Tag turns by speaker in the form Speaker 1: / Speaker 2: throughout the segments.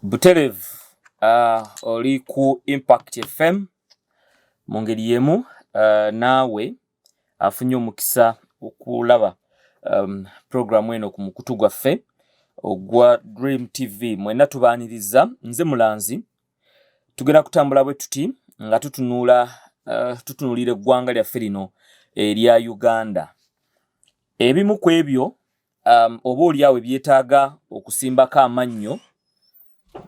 Speaker 1: Buterevu uh, oli ku Impact FM mu ngeri y'emu uh, naawe afunye omukisa okulaba um, puroguramu eno ku mukutu gwaffe ogwa Dream TV mwenna tubaaniriza nze mulanzi tugenda kutambula bwe tuti nga tutunuula uh, tutunuulira eggwanga lyaffe lino erya Uganda ebimu ku ebyo um, oba olyawo ebyetaaga okusimbako amannyo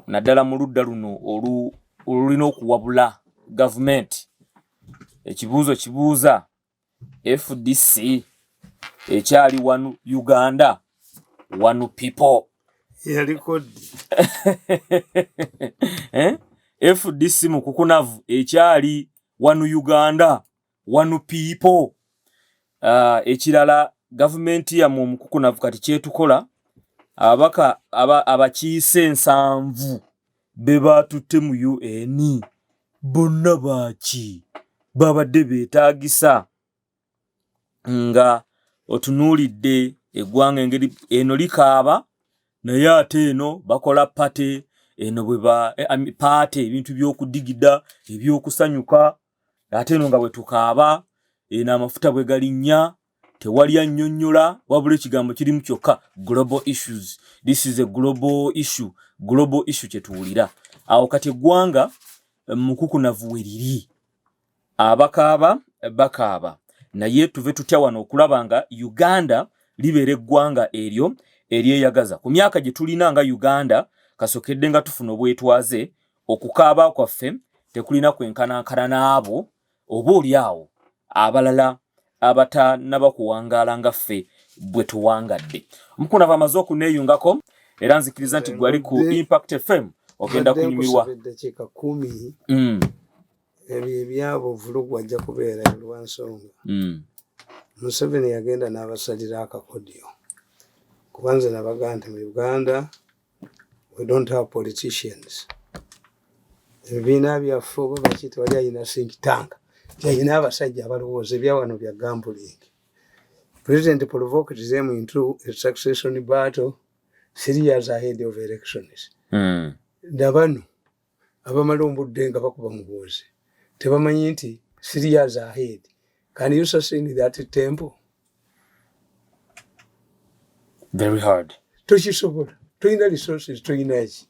Speaker 1: naddala mu ludda luno olulina okuwabula gavumenti ekibuuzo kibuuza fdc ekyali wanu uganda wanu people eh? fdc mukukunavu ekyali wanu uganda one people uh, ekirala gavumenti yamwe omukukunavu kati kyetukola ababaka abakiise aba ensanvu be baatutte mu un bonna baaki babadde beetaagisa nga otunuulidde eggwanga engeri eno likaaba naye ate eno bakola pate eno bwe ba eh, paate ebintu by'okudigida eby'okusanyuka ate eno nga bwe tukaaba eno amafuta bwe galinnya tewali annyonnyola wabula ekigambo kirimu kyokka global issues this is a global issue global issue kye tuwulira awo kati eggwanga eh, mukukunavu we liri abakaaba bakaaba naye tuve tutya wano okulaba nga uganda libeera eggwanga eryo eryeyagaza ku myaka gye tulina nga uganda kasokedde nga tufuna obwetwaze Okukaaba kwaffe tekulina kwenkanankana n'abo oba oli awo abalala abatanaba kuwangaala nga ffe bwe tuwangadde. Mukuna aba amaze okuneeyungako era nzikiriza nti gwali ku Impact FM ogenda kunyumirwa. Mm.
Speaker 2: Ebyo ebyabo vulugu ajja kubeera lwa nsonga. Mm. Museveni yagenda n'abasalira akakodyo kuba nze nabaga nti mu Uganda we don't have politicians ebibiina byaffe oba baki tewali alina think tank teyalina abasajja abalowooza ebyawano bya gambuling president provoked them into a succession battle three years ahead of elections mm. nabano abamala ombudde nga bakuba muhoozi tebamanyi nti three years ahead can you sustain that temple
Speaker 1: very hard tokisobola
Speaker 2: tolina resources tolina ki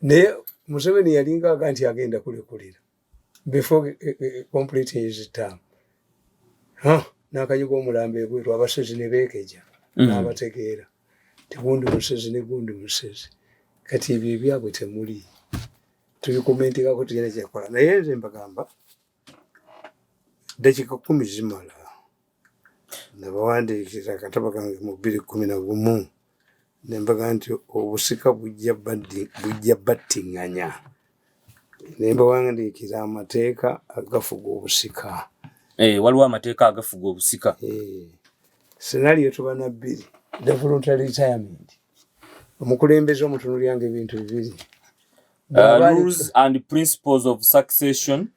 Speaker 2: naye museveni yalinga aga nti agenda kulekulira before eh, eh, eh, complete his term huh? nakanyuga omulambo ebweru abasezi nebekeja mm. nabategeera mm. tegundi musezi negundi musezi kati ebyo ebyabwe temuli tubikomentekako tugenda kyekola naye nze mbagamba dakika kumi zimala nabawandiikira akatabo kange mu bbiri kumi na gumu nembaga nti obusika bujja battinganya nembawandiikira amateeka agafuga obusika eh, waliwo
Speaker 1: amateeka agafuga obusika eh,
Speaker 2: senaliyo tuba na bbiri the voluntary retirement omukulembeze omutunulyanga ebintu bibiri uh,
Speaker 1: rules and principles of succession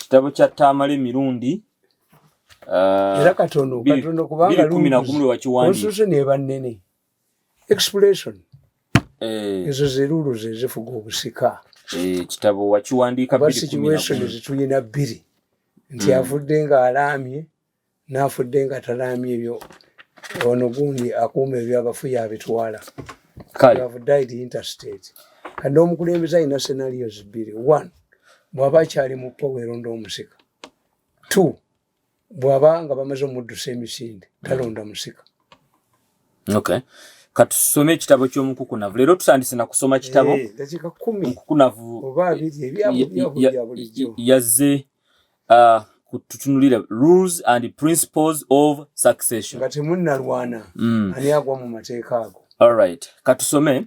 Speaker 1: kitabo
Speaker 2: kya taamala
Speaker 1: emirundi uh,
Speaker 2: era katono katono kubanga lwe wakiwandiika
Speaker 1: ne bannene
Speaker 2: expression eh. ezo zerulu zezifuga obusika eh, kitabo
Speaker 1: wakiwandiika ba situation
Speaker 2: zituyina bbiri nti mm. afudde nga alaamye nafudde nga talaamye ebyo ono gundi akuuma ebyabafuye abitwala kati omukulembeze alina senarios bbiri one bwaba akyali mu powero nda omusika two bwaba nga bamaze omuddusa emisinde talonda musika
Speaker 1: okay katusome ekitabo kyomukukunavu leero tutandise nakusoma kitabo eh,
Speaker 2: mukukunavu yazze
Speaker 1: ah, kututunulira rules and principles of succession nga temunalwana
Speaker 2: mm. ani agwa mu mateeka ago alright
Speaker 1: katusome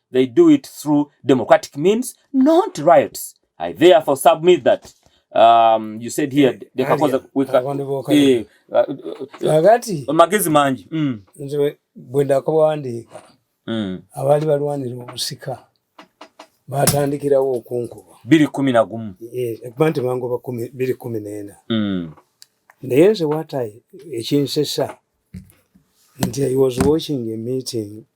Speaker 1: They do it through democratic means, not riots. I therefore submit that um, you said here dekakoza eh, kakati uh, magezi mangi mm. nze bwe
Speaker 2: ndakabawandiika mm. abaali balwanira obusika batandikirawo okunkuba biri kumi na gumu
Speaker 1: ekuba nti bangoba
Speaker 2: biri kumi neena mm. naye nze watayi ekinsesa nti i was watching a meeting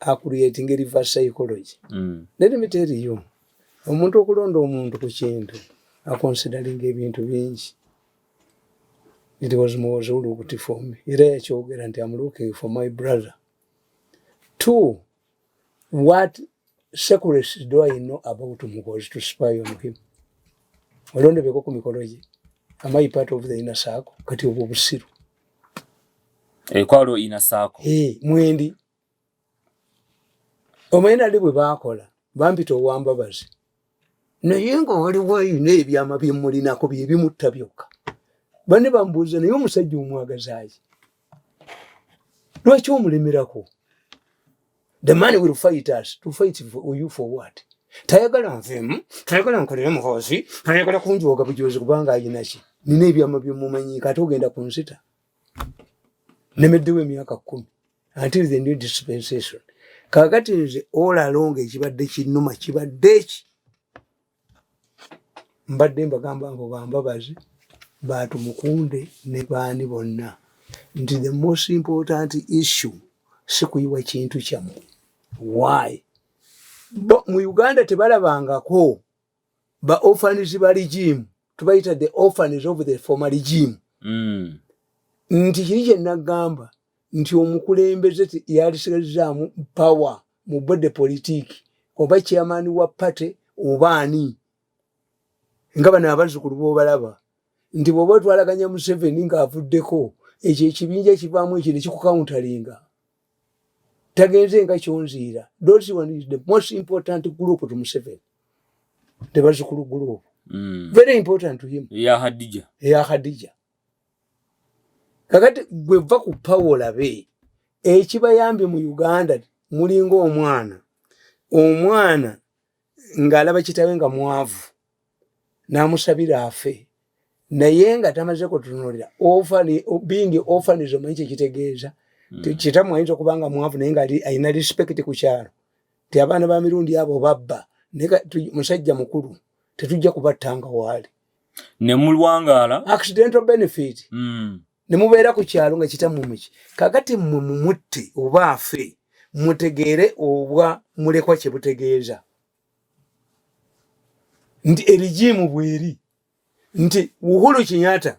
Speaker 2: a creating reverse psychology mm. let me tell you omuntu okulonda omuntu ku kintu aconsidering ebintu bingi it was muwozi ulukuti for me era yakyogera nti am looking for my brother two what secrets do i know about mukozi to spy on him olondebeko ku mikolo gye am i part of the inner circle kati obwo busiru ekwalo
Speaker 1: eh, inner circle hey, eh, mwendi
Speaker 2: omwenda ndi bwe baakola bampita owambabazi naye nga waliwo ayina ebyama byemulinako byebimutta byokka bane bambuuza naye omusajja omwagazaki lwaki omulemerako the man will fight us to fight for you for what tayagala nvemu tayagala nkolere muhoozi tayagala kunjooga bujoozi kubanga ayinaki nina ebyama byemumanyi kate ogenda kunsita nemeddewo emyaka kumi until the new dispensation kakati nze olalonga ekibadde kinuma kibadde eki mbadde mbagamba mbu bambabazi batumukunde ne baani bonna nti the most important issue sikuyiwa kintu kyamu why mu uganda tebalabangako ba orphans ba regime tubayita the orphans of the former regime mm. nti kiri kye nagamba nti omukulembeze yalisigazaamu power mu bode politiki oba chairman wa party oba ani nga bano abazzukulu bobalaba nti bwoba otwalaganya museveni ng'avuddeko ekyo ekibinja kivaamu ekyo nekikukauntalinga tagenze nga kyonziira those one is the most important group to museveni the bazukulu group mm. very important to him ya hadija ya
Speaker 1: hadija
Speaker 2: kakati gwe va ku pawo olabe ekibayambye mu uganda mulinga omwana omwana ng'alaba kitawe nga mwavu n'amusabira afe naye nga tamaze kutunulira bingi ofanis omanyi kyekitegeeza hmm. kitamu ayinza okuba nga mwavu naye nga alina respect ku kyalo ti abaana ba mirundi abo babba musajja mukulu tetujja kubattanga waali ne
Speaker 1: mulwangaala accidental benefit
Speaker 2: mm. ne mubeera ku kyalo nga kitammwe muki kakati mmwe mumutte oba afe mutegeere obwa mulekwa kye butegeeza nti erigiimu bweri nti uhulu kinyata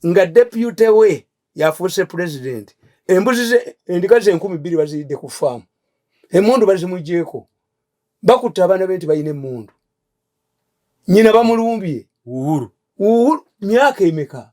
Speaker 2: nga depute we yafuuse pulezidenti embuzi ze endiga ze enkumi bbiri baziridde ku faamu emundu bazimugyeko bakutta abaana be nti balina emundu nyina bamulumbye uhuru uhuru myaka emeka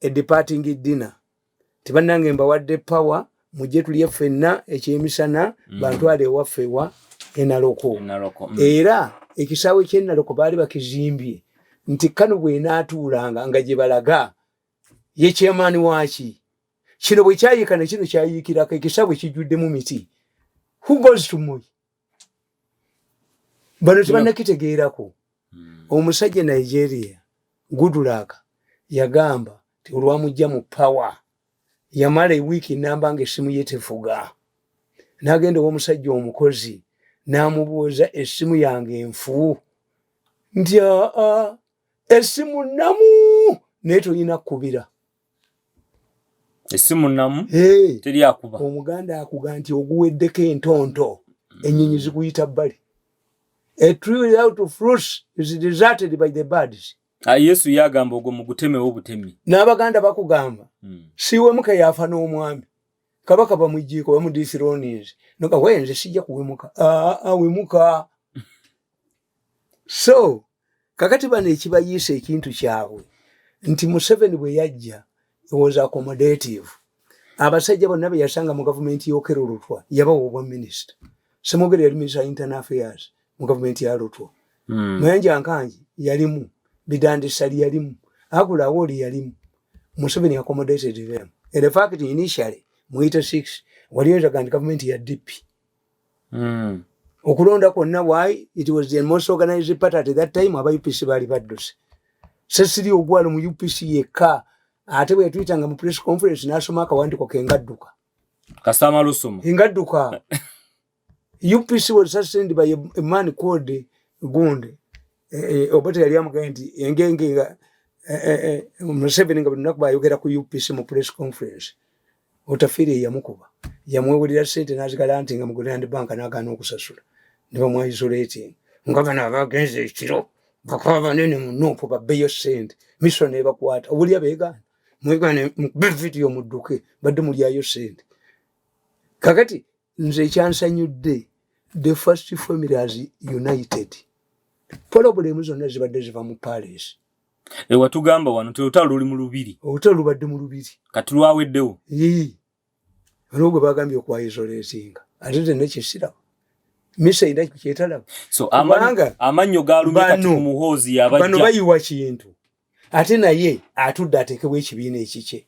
Speaker 2: a departing dinner tibanange mbawadde power mujje tulye ffenna ekyemisana mm. bantwale ewaffe wa enaloko mm. era ekisaawe kyenaloko baali bakizimbye nti kano bwenaatuulanga nga gye balaga ye chairman waki kino bwe kyayika ne kino kyayiikirako ekisaawe kijjuddemu miti who goes to moyi bano tebanakitegeerako hmm. omusajja nigeria gudulaka yagamba ti olwamujja mu pawa yamala ewiiki namba nga essimu ye tefuga nagenda owomusajja omukozi namubuuza essimu yange enfu nti aa essimu namu naye tolina kukubira
Speaker 1: esimu namu teri akuba omuganda akuga nti
Speaker 2: oguweddeko entonto enyinyi zikuyita bbali a tree without fruits is deserted by the birds ah, yesu yagamba
Speaker 1: ogwo mugutemewo butemi n'abaganda bakugamba
Speaker 2: hmm. siwemuka yafa n'omwami kabaka bamujjiiko bamudithironiz noga wenze sijja kuwemuka awemuka ah, ah, so kakati bano ekibayiisa ekintu kyabwe nti museveni bwe yajja was accommodative abasajja bonna be yasanga mu gavumenti y'okero lutwa yabawa obwa minisita semogere yali minisita internal affairs mu gavumenti ya lutwa hmm. mayanja nkangi yalimu bidandisali yalimu agula awoli yalimu museveni accommodated them in fact initially muyite six waliyo ezaga nti gavumenti ya dipi mm. okulonda kwonna why it was the most organized party at that time aba upc baali badduse sesiri ogwalo mu upc yekka ate bwetuyita nga mu press conference nasoma akawandiko kengadduka kasama
Speaker 1: lusoma engadduka
Speaker 2: upc was sustained by a, a man called gunde e, e, obote yali amugambye nti engenge nga e, museveni nga buli lunaku bayogera ku upc mu press conference Otafire eyamukuba yamwewulira sente nazigala nti nga muguland bank nagaana okusasula nebamwaisolating nga bano abagenza ekiro bakuba banene munupu babeyo sente miso nebakwata obulya begaana mwegane mukube vidiyo mudduke badde mulyayo sente kakati nze ekyansanyudde the first family as united poloblemu zonna zibadde ziva mu palace Ewa eh, tugamba
Speaker 1: wano nti olutalo luli mu lubiri. Olutalo lubadde mu lubiri.
Speaker 2: Kati lwaweddewo.
Speaker 1: Yii.
Speaker 2: Olwo gwe bagambye okwayizoleezinga. Ate tenne kisirabo. Misa ina kyetalabo. So amanga
Speaker 1: amanyo galumye kati ku muhoozi yabajja. Bano bayiwa kintu.
Speaker 2: Ate naye atudde ateekebwa ekibiina ekikye.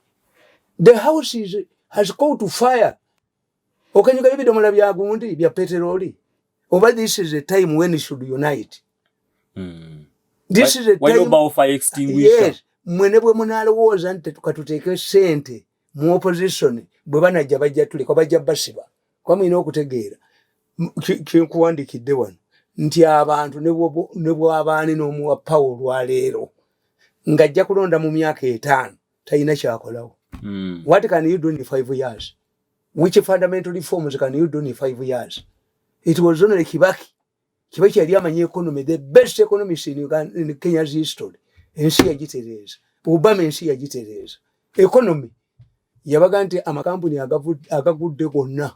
Speaker 2: The house is, has called to fire. okanyuga ebidomola bya gundi bya peteroli oba this is a time when you should unite mm. this why, is a time why fire extinguisher
Speaker 1: yes mwene bwe
Speaker 2: munalowooza nti tukatuteeke sente mu opposition bwe banajja bajja tuleka bajja basiba kuba mulina okutegeera kyenkuwandikidde wano nti abantu ne bwabaani n'omuwa pawo olwaleero ng'ajja kulonda mu myaka etaano talina kyakolawo hmm. what can you do in five years which fundamental reforms can you do in five years it was only kibaki kibaki yali amanyi economy the best economist in, Uganda, in kenya's history ensi yagitereeza obama ensi yagitereeza economy yabaga nti amakampuni agagudde gonna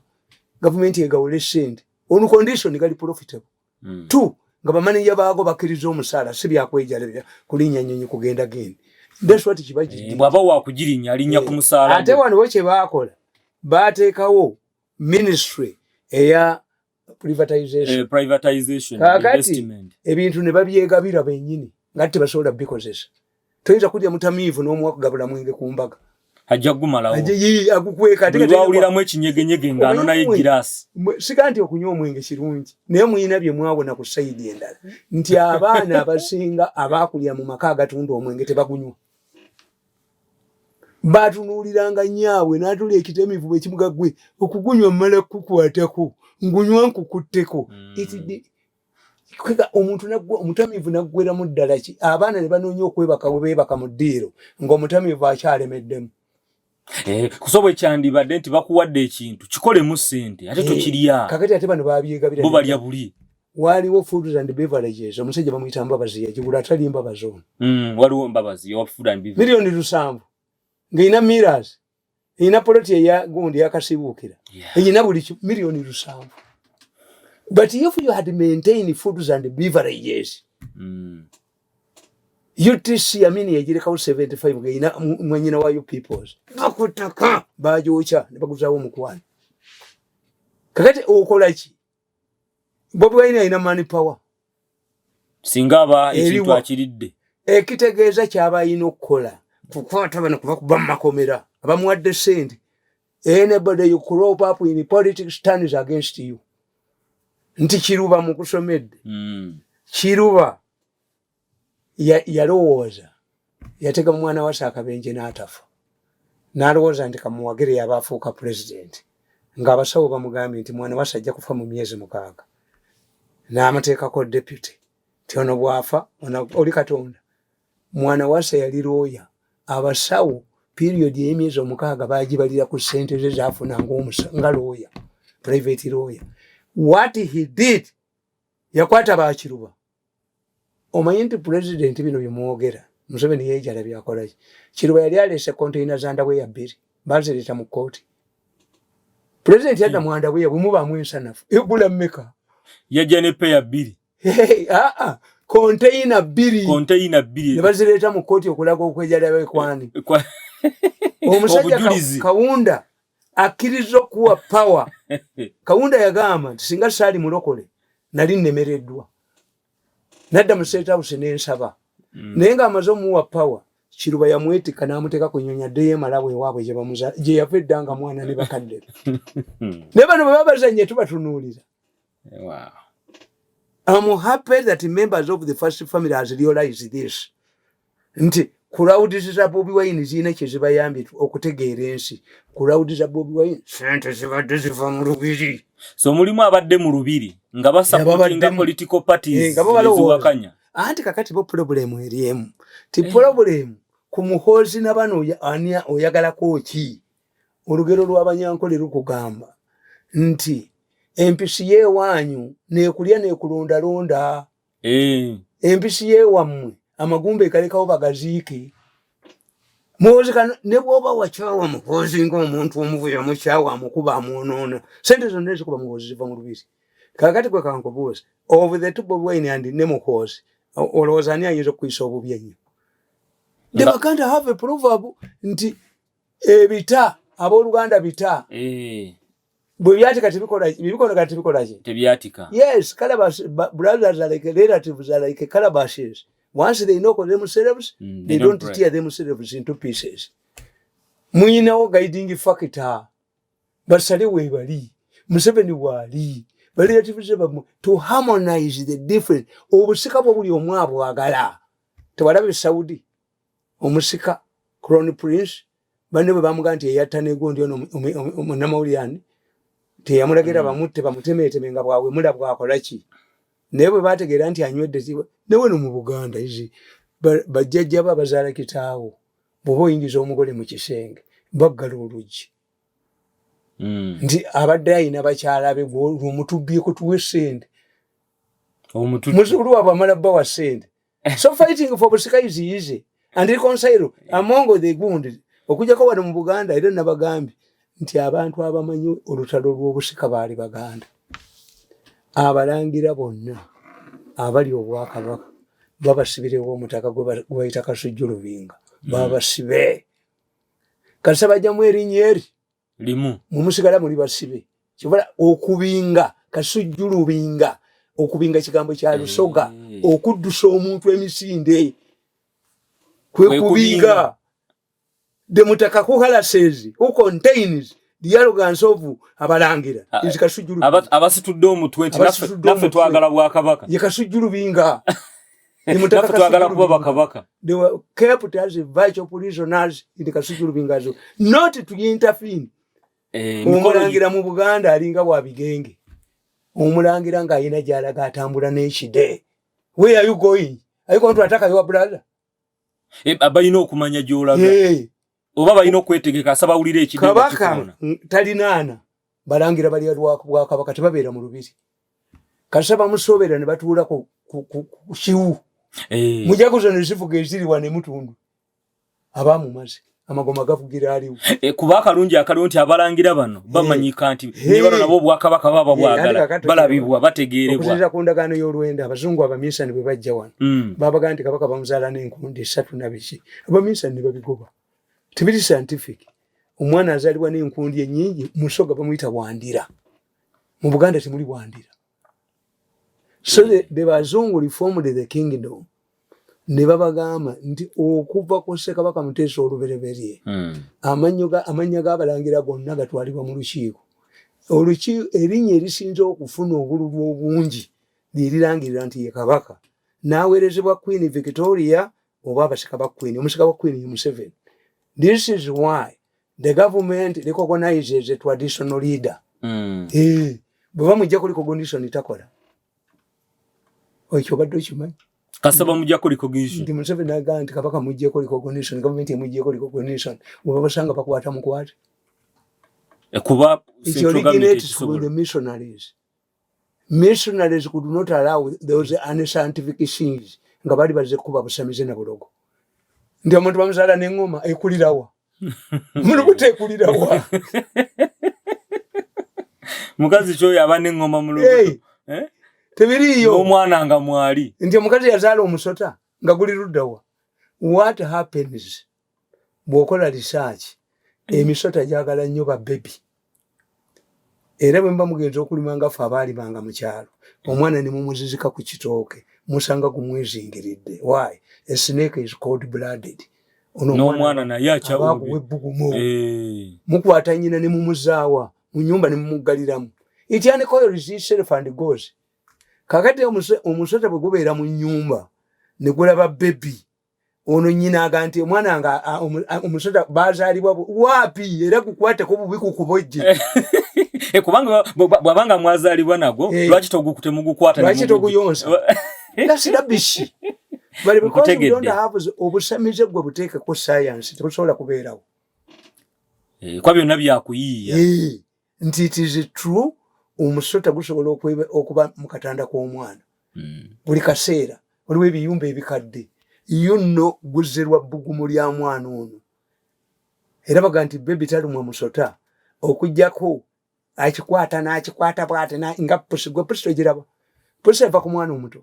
Speaker 2: gavumenti egawole sente on condition gali profitable mm. t nga bamaneja baago bakkiriza omusaala si byakwejalabira kulinya nyonyi kugenda gendi daswati kibagibwaba eh, wakugirinya
Speaker 1: alinya ku musaala ate wano bo kye baakola
Speaker 2: baateekawo ministry eya privatization eh, kakati ebintu ne babyegabira benyini nga tebasobola bikozesa toyinza kulya mutamiivu n'omuwa kugabula mwenge ku mbaga ajja kugumalawo
Speaker 1: agukweka ate
Speaker 2: wawuliramu
Speaker 1: ekinyegenyege ng'ano naye giraasi sika nti okunywa
Speaker 2: omwenge kirungi naye muyina bye mwawona ku sayidi endala nti abaana abasinga abaakulira mu maka agatunda omwenge tebagunywa baatunuuliranga nyaabwe n'atula ekitamivu bwe kimuga gwe okugunywa mmala kukwatako ngunywa nkukutteko mm. kwega omuntu nagwe omutamivu nagwera mu ddala ki abaana ne banoonya okwebaka we beebaka mu ddiiro ng'omutamivu akyalemeddemu eh,
Speaker 1: kusoba ekyandibadde nti bakuwadde ekintu kikolemu ssente ate eh, tokirya kakati ate bano babyegabira
Speaker 2: bo balya buli
Speaker 1: waliwo foods
Speaker 2: and beverages omusajja bamuyita mbabazi yagigula atali mbabazi ono mm, waliwo mbabazi
Speaker 1: miliyoni lusanvu
Speaker 2: ng'erina miras erina poloti eya gundi yakasibuukira erina buli miliyoni lusanvu but if you had maintain foods and beverages mm. utc yamini yagirekawo 75 ngaerina mwanyina wayo peoples bakutaka bagyokya nebaguzawo omukwano kakati okolaki bobi wine alina money power
Speaker 1: singa aba ekintu akiridde ekitegeeza
Speaker 2: kyaba alina okukola kukwata bano kuba kuba mumakomera abamuwadde sente anybody you crop up in politics stands against you nti kiruba mukusomedde mm. kiruba yalowooza ya yatega mu mwana wasa akabenje n'atafa n'alowooza nti kamuwagire yaba afuuka pulezidenti ng'abasawo bamugambye nti mwana wasa ajja kufa mu myezi mukaaga n'amateekako deputy nti ono bwafa oli katonda mwana wasa yali looya abasawo periodi ey'emyezi omukaaga bagibalira ku ssente ze zafuna nga looya private looya what he did yakwata bakiruba omanyi nti pulezidenti bino byemwogera museveni yejala byakolaki kiruba yali aleese konteina za ndaweya bbiri bazireeta mu kkooti pulezidenti yadda mu andaweya bwemubaamu ensanafu egula mmeka yajja ne
Speaker 1: peya bbiri aa ah, ah. konteina
Speaker 2: bbiri konteina bbiri ne bazireeta mu kkooti okulaga okwejala bekwani omusajja kawunda akkirizza okuwa pawa kawunda yagamba nti singa saali mulokole nali nnemereddwa nadda mu seetawusi ne nsaba mm. naye ng'amaze omuwa pawa kiruba yamwetikka n'amuteeka ku nnyonyi addeyo emalawo ewaabwe gye yava edda nga mwana ne bakadde ne bano bwe babazannye tubatunuulira Wow. I'm happy that members of the first family has realized this. Nti crowds za Bobi Wine zina kye zibayambye okutegeera ensi. Crowds za Bobi Wine sente zibadde ziva mu lubiri. So mulimu abadde
Speaker 1: mu lubiri nga basappotinga political parties eh, eziwakanya. Anti kakati bo
Speaker 2: problem eri emu. Ti eh. problem ku muhoozi na bano ani oyagalako ki? olugero lw'abanyankole lukugamba nti empisi yeewaanyu neekulya neekulondalonda eh. empisi yeewammwe amagumba egalekawo bagaziike muwozeka ne bwoba wakyawa muhoozi ngaomuntu omuvuyo mukyawa amukuba amwonoona sente zonna ezikuba muhoozi ziva mu lubiri kakati gwe kankubuuzi of the two bobi wine and ne muhoozi olowooza ani ayinza okukuyisa obubi ennyo the baganda have a proverb nti ebita abooluganda bita eh. bwe byatika tebikola tebikola ki tebyatika yes
Speaker 1: calabash
Speaker 2: brothers are like relatives are like calabashes once they knock themselves mm, they, they don't, don't tear themselves into pieces muyinawo guiding factor basale webali museveni waali baliratives bamwe to harmonize the difference obusika bwo buli omu abwagala tewalaba esaudi omusika crown prince banne bwe bamugamba nti eyatta negundi ono munnamawulire ani teyamulagira mm. bamutte bamutemeeteme nga bwawemula bwakola ki naye bwe bategeera nti anywedde neweno mu buganda izi bajjajjabo abazaala kitaawo bwoba oyingiza omugole mu kisenge baggala oluggi mm. nti abadde ayina bakyala be gwolwomutubyeko tuwe sente omuzukulu wabwe amala bbawa sente eh. so fighting for busika is easy and reconcile eh. among the wounded okujako wano mu buganda era nabagambye nti abantu abamanyi olutalo lw'obusika baali baganda abalangira bonna abali obwakabaka babasibirewo omutaka gwebayita kasujju lubinga babasibe kasabajjamu erinnya eri limu
Speaker 1: mumusigala muli
Speaker 2: basibe kibala okubinga kasujju lubinga okubinga kigambo kya lusoga eh. okuddusa omuntu emisinde kwe kubinga the mutakaku halases who contains the arrogance of abalangira ah, is kasujju abasitudde omutwe
Speaker 1: nti naffe twagala bwakabaka ye kasujju lubinga
Speaker 2: naffe
Speaker 1: twagala kuba bakabaka they were kept
Speaker 2: as vital prisoners in the kasujulu bingazo not to interfere eh, omulangira mu buganda alinga wa bigenge omulangira nga ayina gyalaga atambula n'ekide where are you going are you going to attack your brother eh,
Speaker 1: abalina okumanya gyolaga oba balina okwetegeka asaba awulira ekidkabaka
Speaker 2: talinaana balangira balya bwakabaka tebabeera mu lubiri kasa bamusoobera ne batuula ku kiwu eh. mujaguza ne zivuga eziriwa ne mutundu aba mumaze amagoma gavugira aliwo eh, kuba akalungi akaliwo
Speaker 1: nti abalangira bano eh. bamanyika nti nebano nabo obwakabaka baba bwagala balabibwa bategeerebwaokuteera ku ndagaano
Speaker 2: y'olwenda abazungu abaminsani bwe bajja wano mm. babagaa nti kabaka bamuzaala n'enkundi esatu nabiki abaminsani ne babigoba tebiri scientific omwana azalibwa n'enkundi enyingi musoga bamuyita wandira mu buganda temuli wandira so the bazungu reformed the kingdom ne babagamba nti okuva ku ssekabaka muteesa olubereberye hmm. amannya g'abalangira gonna gatwalibwa mu lukiiko olukiiko erinnya erisinza okufuna obululu obungi lyerirangirira nti ye kabaka n'aweerezebwa queen victoria oba abasika ba queen omusika wa queen museveni this is why the government recognizes a traditional leader mm. eh, bweba mujja kuli cognition takola ekyo obadde okimanyi kasaba mujja kuli
Speaker 1: cognition ndi museveni agaa nti
Speaker 2: kabaka mujja kuli cognition government emujja kuli cognition bweba basanga bakwata mukwate
Speaker 1: eh, kuba
Speaker 2: the missionaries missionaries could not allow those unscientific things nga bali baze kuba busamize na bulogo ndio omuntu bamuzala ne ngoma ekulirawa mulu kute ekulirawa mukazi kyo yaba ne ngoma
Speaker 1: mulu hey. eh tebiriyo
Speaker 2: omwana nga
Speaker 1: mwali ndio mukazi yazala
Speaker 2: omusota nga guli rudawa what happens bwokola research mm. emisota gyagala nnyo ba bebi era bwe mba mugenzi okulima nga ffe abaali banga mu kyalo omwana ne mumuzizika ku kitooke musanga gumwezingiridde why a snake is cold blooded onomwana
Speaker 1: naye akyabakuwa ebbugumu
Speaker 2: eh. mukwata nyina ne mumuzaawa mu nyumba ne mumuggaliramu ityanikoyo research and goes kakati omusota bwe gubeera mu nyumba ne gulaba bebi ono nyina aga nti omwana nga omusota bazalibwa wapi era kukwateko bubi kukubojje eh, kubanga
Speaker 1: bwabanga mwazalibwa nagwo eh. lwaki togukute mugukwata lwaki toguyonsa
Speaker 2: that's rubbish but because you don't have obusamize gwe buteeke ku science tebusobola kubeerawo
Speaker 1: eh, kwa byonna byakuyiiya nti it
Speaker 2: is true omusota gusobola okuba mu katanda k'omwana hmm. buli kaseera waliwo ebiyumba ebikadde yo nno guzerwa bbugumu lya mwana ono era baga nti bebi talumwa musota okugyako akikwata n'akikwata bwate nga pusi gwe pusi togiraba pusi eva ku mwana omuto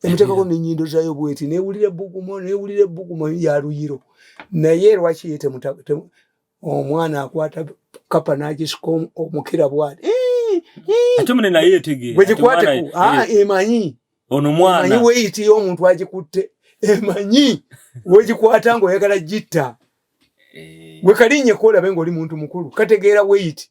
Speaker 2: emutekako nenyindo zayo bweti newulira ebugumo newulira ebugumo ya luyiro naye lwaki ye omwana akwata kapa nagisika omukira bwati ate
Speaker 1: mune naye etegeera bwegikwateko ah, eh.
Speaker 2: emanyi ono mwana emanyi
Speaker 1: weyitiyo omuntu
Speaker 2: agikutte emanyi wegikwata ngaoyagala gitta eh. wekalinye kolabe ngaoli muntu mukulu kategeera weyiti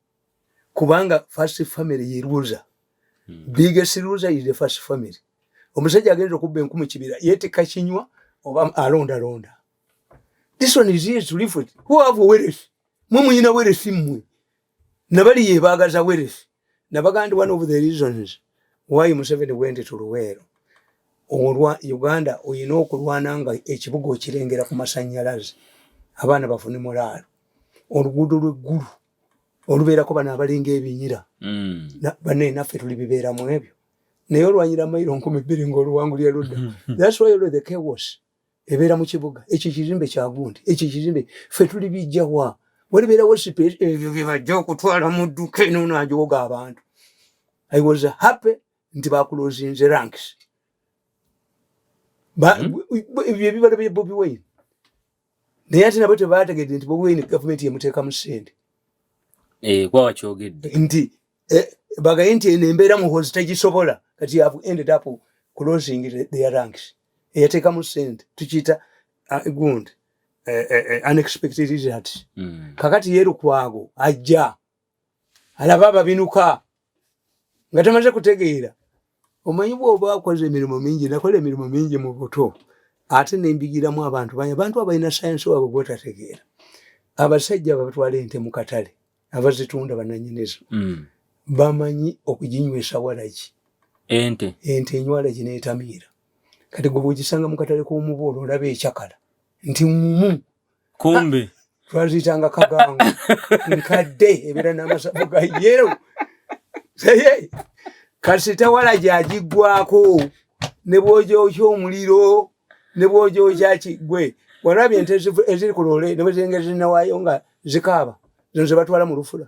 Speaker 2: kubanga first family ye loser mm. biggest loser is the first family omusajja agenda okubba enkumu kibira yetika kinywa oba alonda londa this one is here to live with who have wealth mwe muyina wealth mwe nabali ye bagaza wealth nabagandi one of the reasons why museveni went to luwero olwa uganda oyina okulwana nga ekibuga okirengera ku masanyalaze abaana bafune mulaalo oluguudo lweggulu olubeerako bano abalinga ebinyira mm. bane naffe tuli bibeera mu ebyo naye olwanyira mayiro nkumi bbiri ngaoluwangulira ludda thaswylthekewas ebeera mu kibuga ekyo ekizimbe kyagundi ekyo ekizimbe ffe tuli bijjawa walibeerawo sipeesi ebyo byebajja okutwala mu dduka eno najoga abantu i was happy nti bakulozinze ranks hmm? ebyo ebibala bya bobi wine naye ate nabo tebaategedde nti bobi wine gavumenti yemuteekamu sente eh,
Speaker 1: kwaba kyogedde nti
Speaker 2: eh, bagaye nti eno embeera muhozi tegisobola kati yavu ended up closing their ranks eyateekamu sente tukiyita ah, gundi eh, unexpected results hmm. kakati ye lukwago ajja alaba ababinuka nga tamaze kutegeera omanyi bwoba akoze emirimu mingi nakola emirimu mingi mu buto ate nembigiramu abantu banye abantu abalina sayansi wabwe gwotategeera abasajja babatwala ente mu katale abazitunda bananyinizo mm. bamanyi okuginywesa walaki ente ente enywalaki netamiira kati gwe bwogisanga mu katale k'omubuulo olaba ekyakala nti mumu
Speaker 1: kumbe twaziyitanga
Speaker 2: kagango nkadde ebeera n'amasavu ga yero kasita wala gyagiggwako ne bwogyokya omuliro ne bwogyokya kigwe walabye ente eziri ku loole ne bwe zengeri zinawayo nga zikaaba zino ze batwala mu lufula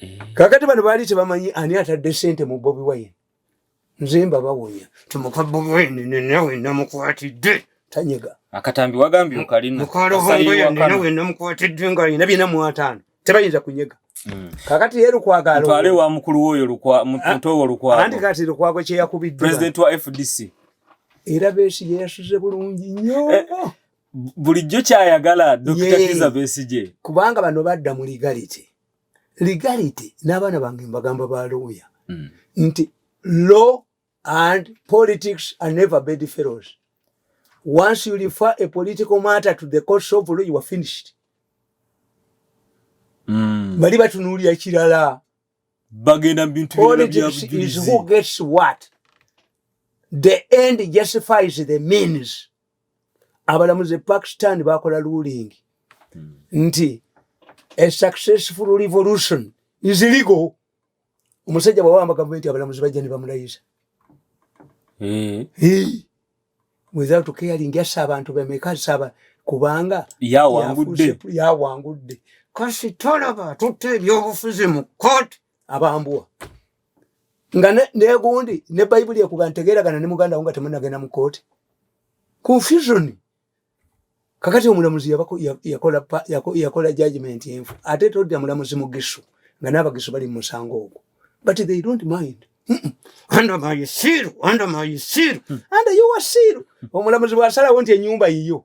Speaker 2: Eh. kakati bano baali tebamanyi ani atadde sente mu bobi wine nze mbabawonya timuka bobi wine nenawe namukwatidde tanyega akatambi wagambye
Speaker 1: okalinmukalovongoyoninawe
Speaker 2: namukwatidde nga alina byena mu ataano tebayinza kunyega hmm. kakati ye lukwagaalwale wa mukulu woyo
Speaker 1: mutowo ah, lukwago anti kati lukwago
Speaker 2: kyeyakubiddwa pulezidenti wa fdc
Speaker 1: era
Speaker 2: besi yeyasuze bulungi nyo eh, bulijjo
Speaker 1: kyayagala dokita kiza besigye kubanga bano badda
Speaker 2: mu legality legality n'abaana bange mbagamba ba looya mm. nti law and politics are never bed fellows once you refer a political matter to the courts of law you are finished mm. bali batunuulira kirala bagenda
Speaker 1: mubintu
Speaker 2: byona abalamuzi e pakistan bakola ruling hmm. nti a successful revolution is legal omusajja bwawamba gavumenti abalamuzi bajja ne bamulayisa hmm. without caring yassa abantu bemeka saba kubanga yawangudde yawangudde kasi tolaba tutte ebyobufuzi mu kooti abambwa nga negundi ne bayibuli ekuba ntegeragana ne muganda wo nga temunagenda mu kooti confusion kakati omulamuzi yakola judgment enfu ate todda mulamuzi mugisu nga n'abagisu bali mu musango ogwo but they don't mind under my seal under my seal under your seal omulamuzi bwasalawo nti enyumba yiyo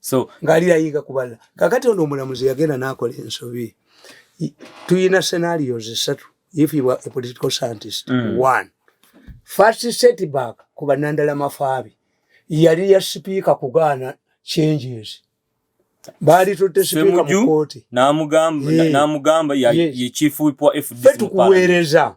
Speaker 2: so
Speaker 1: ng'ali ayiga ku balala
Speaker 2: kakati ono omulamuzi yagenda n'akola ensobi tulina scenarios esatu if you are a political scientist mm. one first setback ku banandala mafaabi yali ya sipiika kugaana changes baali tutte sipiika mu kooti n'amugamba
Speaker 1: n'amugamba ye chief whip wa fdc tukuweereza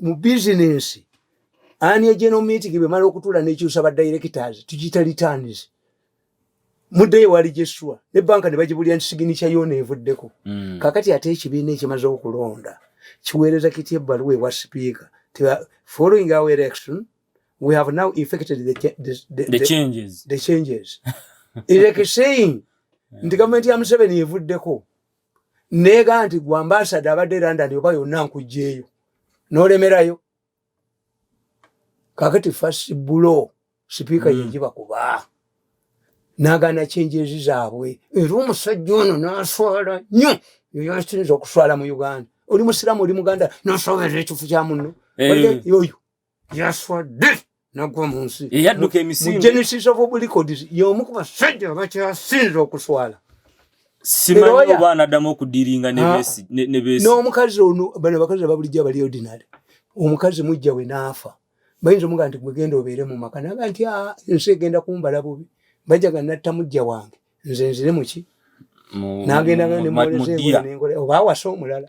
Speaker 2: mu bizinensi ani ejeno miitingi bwemala okutuula nekyusa ba directors tugiyita returns muddeyo wali gyessuwa ne banka ne bagibulira nti siginikya yoona evuddeko mm. kakati ate ekibiina ekimaze okulonda kiweereza kitya ebbaluwa ewa sipiika following our election we have now effected the, the, the, the, the
Speaker 1: changes, the
Speaker 2: changes. is like saying nti gavumenti ya museveni evuddeko neega nti gwe ambasada abadde london oba yonna nkugjeeyo nolemerayo kakati fasi bulo sipiika mm. yejiba kuba nagana kyenjezi zaabwe era omusajja ono naswala nyo yoyasinza okuswala mu uganda oli musiramu oli muganda nasoberera ekifu kya muno eh. oyo yaswadde nagwa mu nsi eyadduka emisinde mu
Speaker 1: genesis of oblicodes
Speaker 2: y'omu ku basajja abakyasinze okuswala simanyi
Speaker 1: oba anaddamu okudiringa nebeesi n'omukazi ono bano
Speaker 2: abakazi ababulijjo abali ordinary omukazi mujja we n'afa bayinza omuga nti gwegenda obeere mu maka naga nti ah, ensi egenda kumbala bubi bajaga natta mujja wange nze nzire muki nagenda nemboolezeoba awasa omulala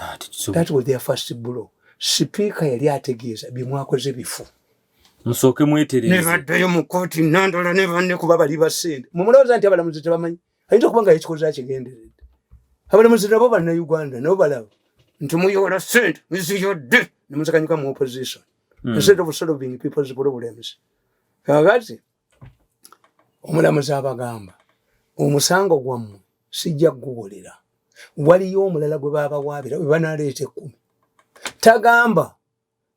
Speaker 2: ah, that was their first blow sipiika yali ategeeza byemwakoze bifu musooke
Speaker 1: mweterenebaddayo mu kooti
Speaker 2: nandola ne banne kuba bali basente mumulowooza nti abalamuzi tebamanyi ayinza okuba nga ekikoze akigenderedde abalamuzi nabo bannayuganda nabo balaba nti muyola sente muziyodde nemuzikanyuka mu opposition hmm. instead of solving people's problems kakati omulamuzi abagamba omusango gwammwe sijja kuguwulira waliyo omulala gwe babawaabira we banaleeta ekkumi tagamba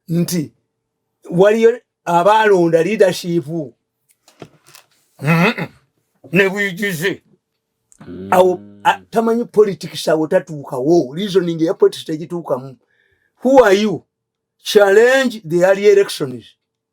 Speaker 2: nti waliyo abaalonda leadership ne bwigize mm. awo tamanyi politics awo tatuukawo reasoning eya politics tegituukamu who are you challenge the early elections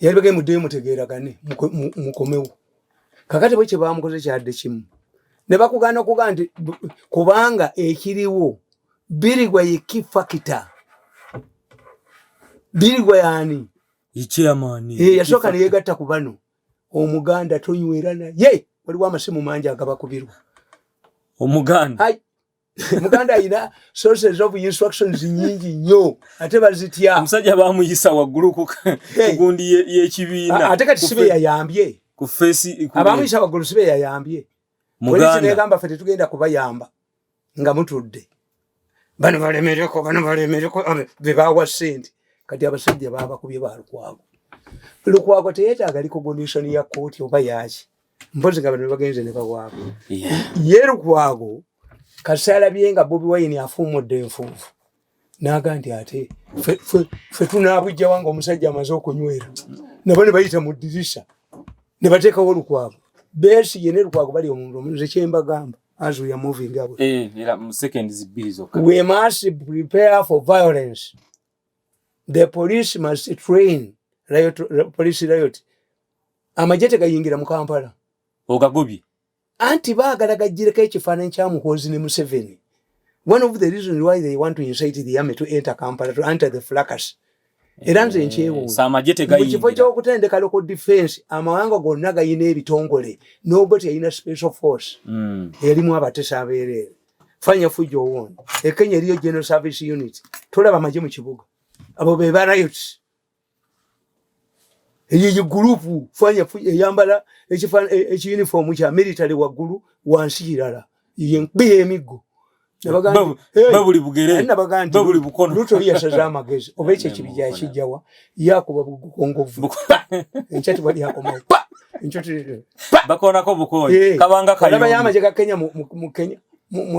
Speaker 2: yali bagee muddeyo mutegeeragane mukomewo kakati bwe kyebamukoze kyadde kimu ne bakugaana okugaa nti kubanga ekiriwo birigwa ye ki fakita birigwa yaani
Speaker 1: yasooka neyegatta
Speaker 2: ku bano omuganda tonywera naye waliwo amasimu mangi agabakubirwa
Speaker 1: omuganda
Speaker 2: muganda alina sources of instructions nyingi nnyo ate bazitya omusajja bamuyisa
Speaker 1: waggulu ku gundi y'ekibiina ate kati sibe
Speaker 2: yayambye ku feesi
Speaker 1: abamuyisa waggulu sibe
Speaker 2: yayambye polisi negamba fe tetugenda kubayamba nga mutudde bano balemereko bano balemereko bebawa sente kati abasajja babakubye ba lukwago lukwago teyetaaga likogonition ya kooti oba yaki mpozi nga bano bagenze ne bawaako ye lukwago kasalabye nga bobi wayini afuumudde enfuufu naga nti ate fe tunabujjawa nga omusajja amaze okunywera nabo ne bayita mu dirisa ne bateekawo lukwago besi ye ne lukwago bali omuntu omuze kyembagamba as we are moving up
Speaker 1: eh, we must
Speaker 2: prepare for violence the police must train riot, police riot amagye tegayingira mu kampala ogagobye
Speaker 1: anti
Speaker 2: baagala gajjireko ekifaananyi kya muhoozi ne museveni one of the reasons why they want to incite the army to enter kampala to enter the flacus era nze eh, nkyewuunkifo
Speaker 1: kyokutendeka loko
Speaker 2: defense amawanga gonna galina ebitongole nobot yalina special force mm. yalimu abatesa abeereere fanya fujo uone. E Kenya iliyo General Service Unit. Tola bamaje mchibuga. Abo beba riots. Eyi group fanya fujo yambala echi fan echi uniform cha military wa guru wanshirala. Iye mbiye emigo.
Speaker 1: Babuli bugere. Babuli bukono. Luto liya shazama
Speaker 2: gezi. Obeche chibijachi jawa. yakuba bugongovu enkya tewali akomawo bakonako
Speaker 1: bukoyi eh, kabanga kayobayamaje ga kenya
Speaker 2: mu kenya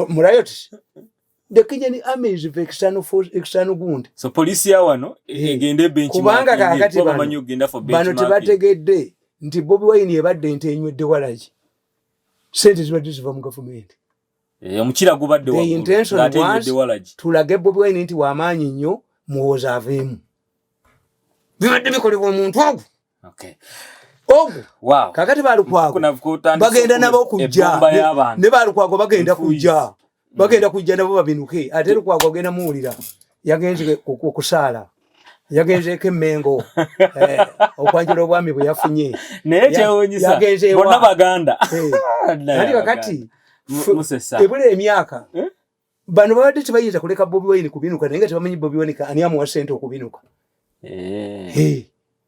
Speaker 2: mu riot the kenyan army is the external force external gund so police ya wano
Speaker 1: eh, eh, egende bench kubanga kakati
Speaker 2: bamanyo genda for bench bano
Speaker 1: tebategedde
Speaker 2: nti bobi wine ebadde nte enywedde walaki sente zibadde ziva mu gavumenti Eh, omukira
Speaker 1: gubadde
Speaker 2: tulage bobi wine nti wamaanyi nnyo muwooza aveemu bibadde bikolebwa omuntu ogwo
Speaker 1: ogwo
Speaker 2: kakati
Speaker 1: balukwago
Speaker 2: bagenda nabo kujja ne balukwago bagenda kujja bagenda kujja nabo babinuke ate lukwago agenda muwulira yagenze okusaala yagenzeeko emmengo eh, okwanjula obwami bwe yafunye naye
Speaker 1: kyewunyisabonna baganda eh, nali
Speaker 2: kakati ebula emyaka eh? bano babadde tebayinza kuleka bobi wayini kubinuka naye nga tebamanyi bobi wanika ani amuwa sente okubinuka